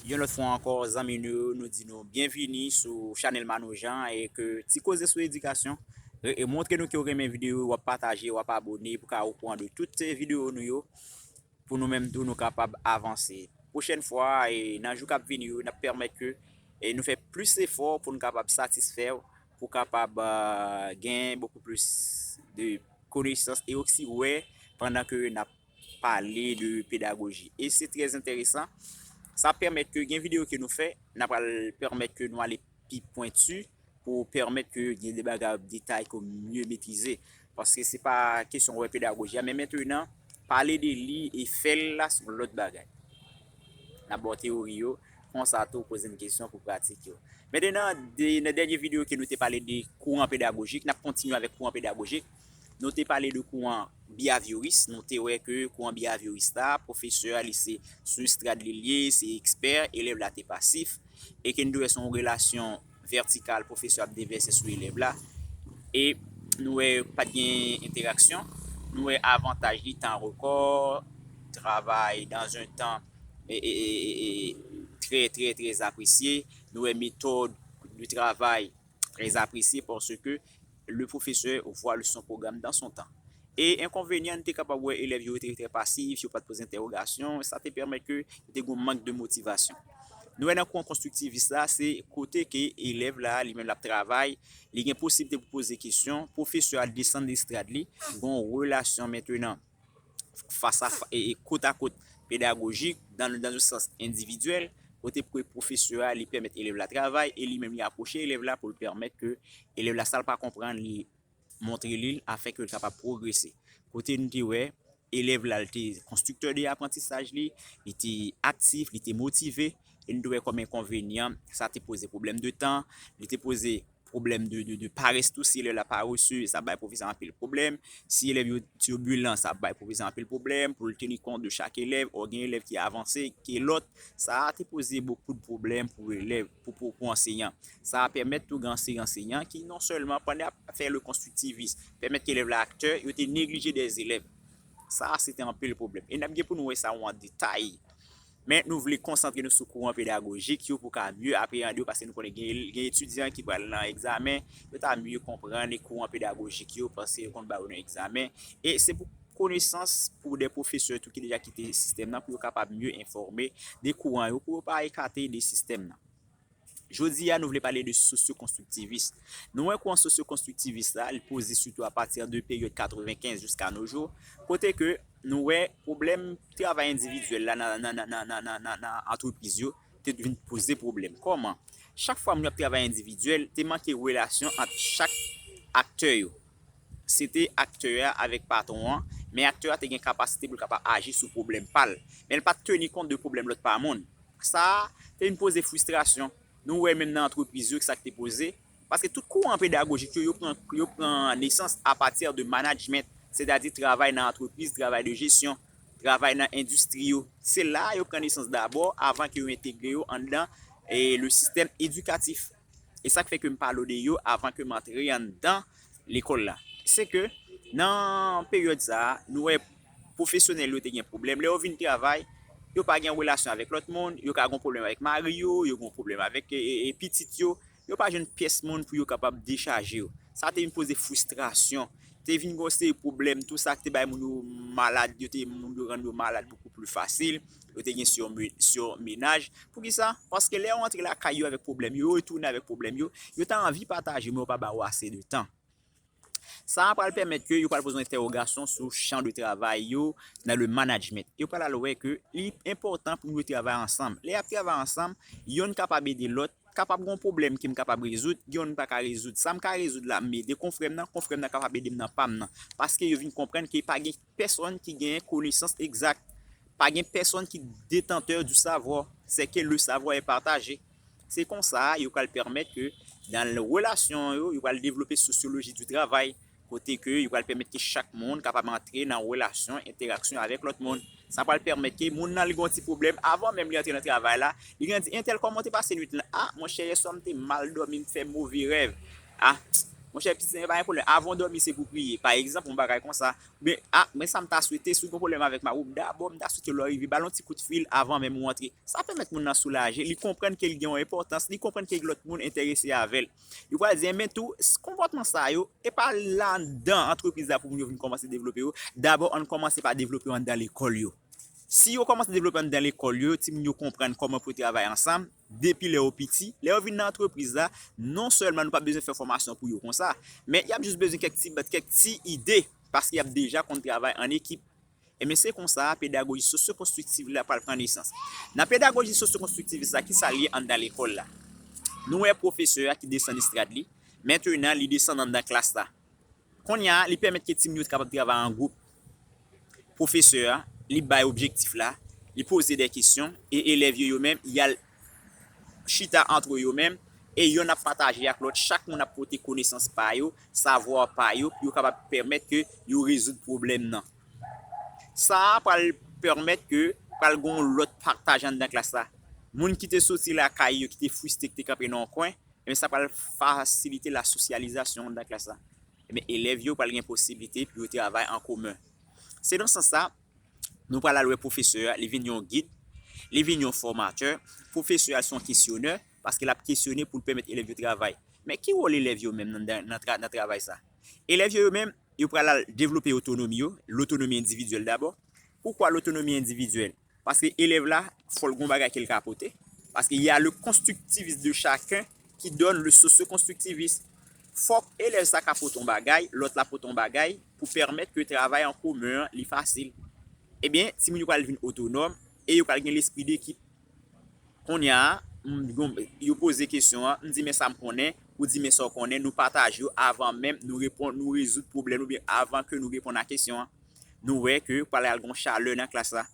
Yon lòt fwa ankò zanmi nou yo nou di nou byenvini sou chanèl Manno Jean e ke ti koze sou edikasyon e montre nou ke w renmen videyo yo wap pataje wap abone pou ka okouran de tout videyo nou yo pou nou menm tou nou kapab avanse pwochèn fwa e nan jou kap vini yo nap pèmèt ke nou fè plis efò pou nou kapab satisfè w pou kapab gen bokou plis de konesans e osi wè pandan ke nap pale de pedagoji e se trè enteresan sa ap pèmèt ke gen video ke nou fè na pral pèmèt ke nou ale pi pwentu pou pèmèt ke gen de bagay ou detay ke ou mye metrize paske se pa kesyon wè pedagoji a men mentenan pale de li e fè l la se yon lòt bagay n ap ba w teyori yo konsa tou poze m kesyon pou pratik yo mentenan nan dènye video ke nou te pale de kouran pedagojik n ap kontinye avèk kouran pedagojik Nou te pale de kouran biyavyoris, nou te wè ke kouran biyavyoris la, pwofesè a li se sou estrad li ye, se ekspè, elèv la te pasif, e ke nou te wè se yon relasyon vètikal pwofesè ap devèse sou elèv la, e nou wè pa t gen entèraksyon, nou wè avantaj li tan rekò, travay dan zon tan trè trè trè apresye, nou wè metòd de travay très apprécié parce que le professeur voit le son programme dans son temps. E enkonvenyan n te kapab wè elèv yo te trè pasif, yo pa t poze entèwogasyon, sa te pèmèt ke te gon mank de motivasyon. Nou wè nan kwen konstriktivis la, se kote ke elèv la, li menm l ap travay, li gen posiblite pou poze kesyon, pwofesè a desann estrad li, gon relasyon mentenan. fas a fas, kot a kot pedagojik, dan dan yon sans endividyèl, kote pou e pwofesè a li pèmèt elèv la travay e li menm li apwoche elèv la pou l pèmèt ke elèv la sa l pa konprann li montre li l afin ke l kapab pwogrese. Kote nou te wè elèv la l te konstriktè de aprantisaj li, li te aktif, li te motive e nou te wè kòm enkonvenyan sa te poze pwoblèm de tan, li te poze. pwoblèm de parès tou, si elèv la parese, sa bay pwofesè anpil pwoblèm, si elèv yo tirbilan, sa bay pwofesè anpil pwoblèm, pou l teni kont de chak elèv, ò gen elèv ki avanse ke lòt, sa a te poze bokou de pwoblèm pou elèv, pou anseyan. Sa a pèmèt tou gen anseyan anseyan ki non sèlman pandan y ap fè le konstriktivis, pèmèt ke elèv la aktè, yo te neglije dè elèv. Sa a se te anpil pwoblèm. E n ap gen pou nou wè sa ou an detay Men nou vle konsantre nou sou kouran pedagojik yo pou ka mye apreande yo paske nou konnen gen etidyan ki pral nan egzamen, yo ta mye konpranne kouran pedagojik yo paske yo konn ba yo nan egzamen. E se pou konesans pou de pwofesè tou ki deja kite sistèm nan pou yo kapab mye enfòme de kouran yo pou yo pa ekate de sistèm nan. Jodi a, nou vle pale de sosyo-konstriktivis. Nou wè kouran sosyo-konstriktivis la, li poze sitou apati de peryòd 95 jiska no jou, kote ke nou wè pwoblèm travay endividyèl la nan antrepriz yo te vin poze pwoblèm. Kòman? Chak fwa moun yo ap travay endividyèl, te manke relasyon ant chak aktè yo. Se te aktè a avèk patwon an, men aktè a te gen kapasite pou l kapab aji sou pwoblèm pa l. Men l pa t teni kont de pwoblèm lòt pa moun. Sa te vin poze fristrasyon. Nou wè menm nan antrepriz yo, sa k te poze. Paske tout kouran pedagojik yo, yo pran nesans apati de manajment, sètadi travay nan antrepriz, travay de jesyon, travay nan endistri yo. Se la yo pran nesans dabò avan ke yo entegre yo anndan le sistèm edikatif. E sa k fè ke m palo de yo avan ke m antre anndan lekòl la. Se ke nan peryòd sa a, nou wè Pwofesyonèl yo te gen pwoblèm lè yo vin travay, yo pa gen relasyon avèk lòt moun, yo ka gen pwoblèm avèk mari yo, yo gen pwoblèm avèk pitit yo, yo pa jwenn pyès moun pou yo kapab dechaje yo. Sa te vin poze fristrasyon. Te vin gen yon seri pwoblèm tou sa ki te bay moun yo malad, yo te moun yo rann yo malad bokou pli fasil, yo te gen surmenaj. Pou ki sa? Paske lè yo rantre lakay yo avèk pwoblèm yo, yo retounen avèk pwoblèm yo, yo ta anvi pataje men yo pa ba yo ase de tan. Sa a pral pèmèt ke yo pral poze yon entèwogasyon sou chan de travay yo nan le manajment. Yo pral al wè ke li enpòtan pou yo travay ansanm. Lè y ap travay ansanm, yonn kapab ede lòt, kapab gen yon pwoblèm ke m kapab rezoud, gen yon m pa ka rezoud. Sa m ka rezoud la, m ede konfrè m nan, konfrè m nan kapab ede m nan pa m nan. Paske yo vin konprann ke pa gen. Pèsòn ki gen konesans egzak. Pa gen pèsòn ki detantè di savwa, sè ke le savwa è pataje. Se konsa yo pral pèmèt ke nan relasyon yo, yo pral devlope sosyoloji di travay, kote ke yo pral pèmèt ke chak moun kapab antre nan relasyon, entèraksyon avèk lòt moun. Sa pral pèmèt ke moun nan li gen yon ti pwoblèm, avan menm li antre nan travay la, li gen di entèl kòman ou te pase nwit lan? A, monchè yèswa m te mal dòmi, m fè move rèv. Ah monchè pitit nan yo pa gen pwoblèm avan w dòmi se pou w priye pa egzanp yon bagay konsa oubyen ah men sa m ta swete si w gen pwoblèm avèk mari w dabò m ta swete lè w rive ba l yon ti kout fil avan menm ou antre sa pèmèt moun nan soulaje li konprann ke l gen yon enpòtans li konprann ke gen lòt moun enterese avè l yo pral di enben tou konpòtman sa yo e pa landan antrepriz la pou moun yo vin kòmanse devlope yo dabò ann kòmanse pa devlope yo anndan lekòl yo si yo kòmanse devlope anndan lekòl yo timoun yo konprann kòman pou yo travay ansanm. depi lè yo piti, lè yo vin nan antrepriz la, non sèlman nou pa bezwen fè fòmasyon pou yo konsa, men y ap jis bezwen kèk ti bat, kèk ti ide, paske y ap deja konn travay an ekip. Enben se konsa pedagoji sosyokonstriktiv la pral pran nesans. Nan pedagoji sosyokonstriktivis la, ki sa l ye anndan lekòl la? Nou wè pwofesè a ki desann estrad li, mentenan li desann anndan klas la. Konnya li pèmèt ke timoun yo te kapab travay an gwoup. Pwofesè a, li bay objektif la, li poze de kesyon e elèv yo yo menm y al chita antre yo menm e yonn ap pataje ak lòt, chak moun ap pote konesans pa yo, savwa pa yo pou yo kapab pèmèt ke yo rezoud pwoblèm nan. Sa a pral pèmèt ke pral gen yon lòt pataj anndan klas la. Moun ki te soti lakay yo, ki te friste, ki te kanpe nan yon kwen, Ebyen sa pral fasilite la sosyalizasyon anndan klas la. Ebyen elèv yo pral gen posiblite pou yo travay an komen. Se nan sans sa, nou pral al wè pwofesè a, li vin yon gid, li vin yon fòmatè, pwofesè a se yon kesyonè, paske l ap kesyone pou l pèmèt elèv yo travay. Men ki wòl elèv yo menm nan travay sa? Elèv yo yo menm, yo pral al devlope otonomi yo, lotonomi endividyèl dabò. Poukwa lotonomi endividyèl? Paske elèv la, fò l gen yon bagay ke l ka pote. Paske y a le konstriktivis de chaken ki donn le sosyokonstriktivis. Fòk elèv sa ka pote yon bagay, lòt la pote yon bagay pou pèmèt ke travay an komen an li fasil. Ebyen, timoun yo pral vin otonòm e yo pral gen lespri dekip. Konnya, yo poze kesyon an, m di men sa m konnen, ou di men sa w konnen, nou pataje yo avan menm nou reponn, nou rezoud pwoblèm oubyen avan ke nou reponn a kesyon an. Nou wè ke pral al gen yon chalè nan klas la.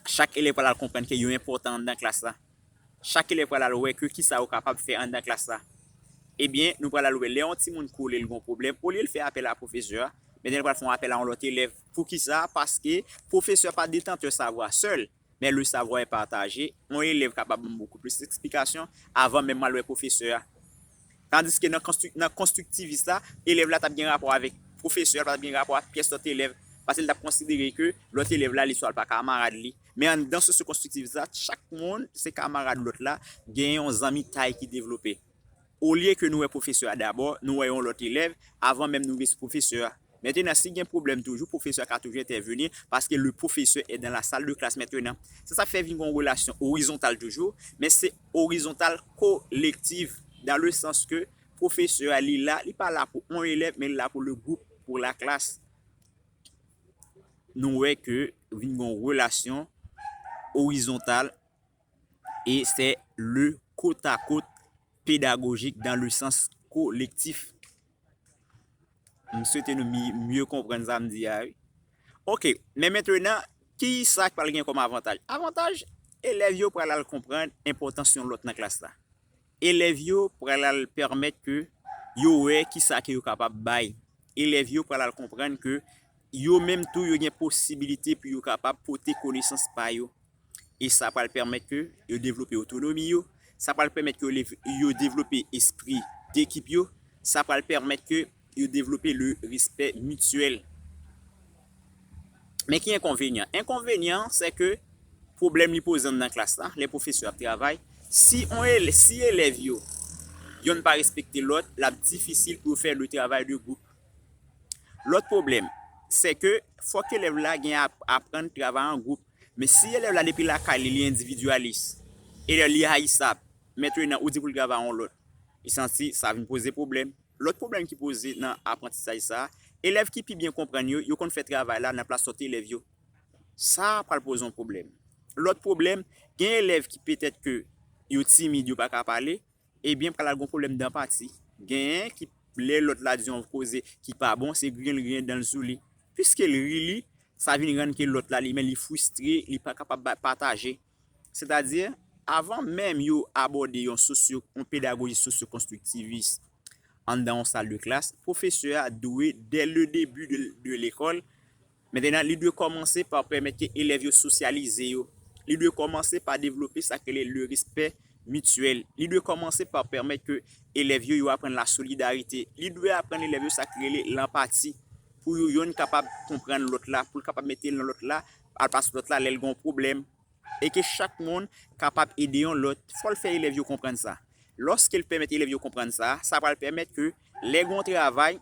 Chak elèv pral al konprann ke yo enpòtan anndan klas la. Chak elèv pral al wè ke kisa yo kapab fè anndan klas la. Ebyen, nou pral al wè lè yon timoun kole l gen yon pwoblèm, olye l fè apèl a pwofesè a, mèt la li pral fè yon apèl a yon lòt elèv. Poukisa? Paske pwofesè pa detantè savwa sèl. Men le savoir est partagé, yon elèv ka ba ban bokou plis eksplikasyon avan menm mwen wè pwofesè a. Tandiske nan konstriktivis la, elèv la t ap gen rapò avèk pwofesè a, l pa t ap gen rapò ak pyès lòt elèv, paske li t ap konsidere ke lòt elèv la li swa l pa kamarad li. Men anndan sosyo-konstriktivis la, chak moun se kamarad lòt la, gen yon zanmitay ki devlope. Olye ke nou wè pwofesè a dabò, nou wè yon lòt elèv, avan menm nou rive sou pwofesè a. Mentenan, si gen pwoblèm toujou, pwofesè a ka toujou entèveni, paske le professeur est dans la salle de classe maintenant. Se sa k fè vin gen yon relasyon orizontal toujou, men se orizontal kolektiv, dans le sens ke pwofesè a li la, li pa la pou on elèv, men li la pou le gwoup, pou la klas. Nou wè ke vin gen yon relasyon orizontal. e se le kotakot pedagojik dan le sans kolektif. M swete nou mye konprann sa m di a wi. Ok, men mentenan, ki sa k pral gen kòm avantaj? Avantaj, elèv yo pral al konprann enpòtans yon lòt nan klas la. Elèv yo pral al pèmèt ke yo wè ki sa ke yo kapab bay. Elèv yo pral al konprann ke yo menm tou yo gen posibilite pou yo kapab pote konesans pa yo e sa pral pèmèt ke yo devlope otonomi yo, sa pral pèmèt ke yo devlope espri dekip yo, sa pral pèmèt ke yo devlope le respè mityèl. Men ki enkonvenyan? Enkonvenyan an se ke pwoblèm li poze anndan klas la, lè pwofesè ap travay, si elèv yo yonn pa respekte lòt, l ap difisil pou yo fè le travay de gwoup. Lòt pwoblèm, se ke fòk elèv la gen aprann travay an gwoup. Men si elèv la depi lakay li li endividyalis, elèv li rayisab, mèt yo nan ou di pou l travay yon lòt, li santi sa vin poze pwoblèm. Lòt pwoblèm ki poze nan aprantisaj sa, elèv ki pi byen konprann yo, yo konn fè travay la nan plas lòt elèv yo. Sa pral poze yon pwoblèm. Lòt pwoblèm, gen elèv ki petèt ke yo timid yo pa ka pale, Ebyen pral al gon problème dan pati genyen ki lè lòt la di yon koze ki pa bon se griyen li griyen danl sou li piske li ri li sa vin rann ke lòt la li menm li fristre li pa kapab pataje sètadi avan menm yo abòde yon sosyo yon pedagoji sosyo konstriktivis anndan yon sal de klas pwofesè a dwe dè le debi de lekòl Mentenan, li dwe kòmanse pa pèmèt ke elèv yo sosyalize yo. Li dwe kòmanse pa devlope sa k rele le respè mityèl. Li dwe kòmanse pa pèmèt ke elèv yo yo aprann la solidarite. Li dwe aprann elèv yo sa k rele lanpati pou you yonn kapab konprann lòt la, pou l kapab mete nan lòt la, al pas lòt la lè l gen yon pwoblèm, e ke chak moun kapab ede yon lòt, fò l fè elèv yo konprann sa. Lòske l pèmèt elèv yo konprann sa, sa pral pèmèt ke lè gen yon travay,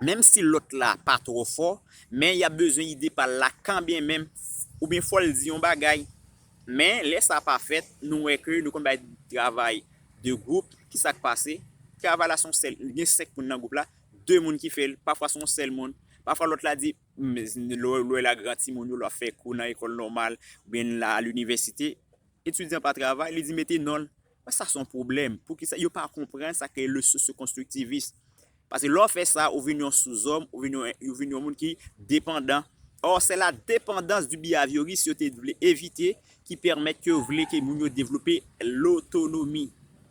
menm si lòt la pa twò fò, men y ap bezwen ide pa l la kanbyen menm, oubyen fò l di yon bagay. Men, lè sa pa fèt, nou wè ke nou konn bay travay de gwoup, ki sa k pase? Travay la se yon sèl, gen senk moun nan gwoup la, de moun ki fè l, pafwa se yon sèl moun, pafwa lòt la di, Lè w la gran timoun yo, lè w ap fè kou nan ekòl nòmal oubyen lè w a linivèsite, etidyan pa travay, li di mete non l. Mwen sa se yon pwoblèm. Poukisa yo pa konprann sa ki rele le sosyokonstriktivis? Paske lè w fè sa, ou vin yon souzòm, ou vin yon moun ki depandan. Ò, se la depandans di biyavyoris yo te vle evite ki pèmèt yo vle ke moun yo devlope lotonomi.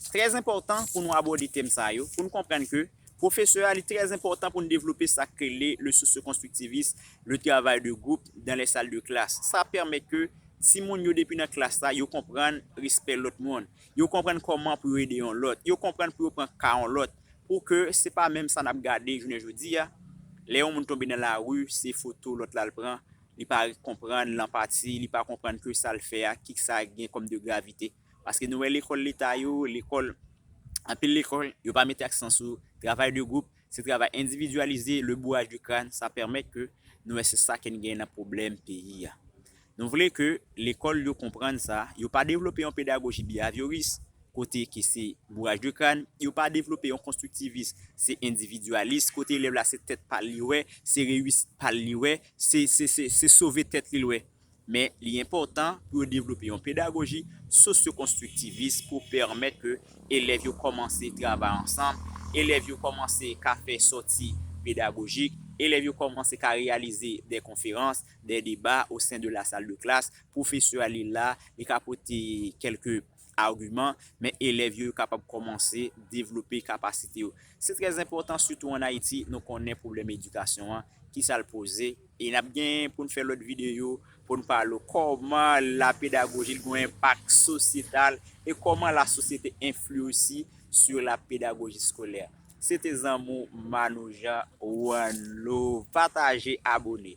Se trè enpòtan pou nou abòde tèm sa yo, pou n konprann ke pwofesè a li trè enpòtan pou n devlope sa k rele le socio-konstriktivis, le travay de gwoup dan lè sal de klas. Sa pèmèt ke timoun yo depi nan klas la, yo konprann respè lòt moun, yo konprann kòman pou yo ede yon lòt, yo konprann pou yo pran ka yon lòt, pou ke se pa menm sa n ap gade jounen jodi a, lè yon moun tonbe nan lari, se foto lòt la l pran, li pa konprann lanpati, li pa konprann ke sa l fè a, ki sa gen kòm de gravite. Paske nou wè lekòl leta yo, lekòl, anpil lekòl, yo pa mete aksan sou travay de gwoup, se travay endividyalize, le bourrage de crâne, sa pèmèt ke nou wè se sa ke n gen nan pwoblèm peyi a. Nou vle ke lekòl yo konprann sa, yo pa devlope yon pedagoji biyavyoris, kote ke se bourrage de crâne, yo pa devlope yon konstriktivis, se endividyalis, kote elèv la se tèt pa l li wè, se reyisit pa l li wè, se sove tèt li l wè. Men li enpòtan pou yo devlope yon pedagoji sosyokonstriktivis pou pèmèt ke elèv yo kòmanse travay ansanm, elèv yo kòmanse ka fè sòti pedagojik, elèv yo kòmanse ka reyalize dè konferans, dè deba osen de lasaldeklas, pwofesè a li la, li ka pote kèlke agiman, men elèv yo yo kapab kòmanse devlope kapasite yo. Se trè enpòtan sitou an Ayiti, nou konnen pwoblèm edikasyon an, ki sa l poze, e n ap gen pou n fè lòt videyo pou n pale kòman la pedagoji gen yon enpak sosyetal e kòman la sosyete enfli osi sou la pedagoji skolè. Se te zanmi w Manno Jean, one love, pataje, abone.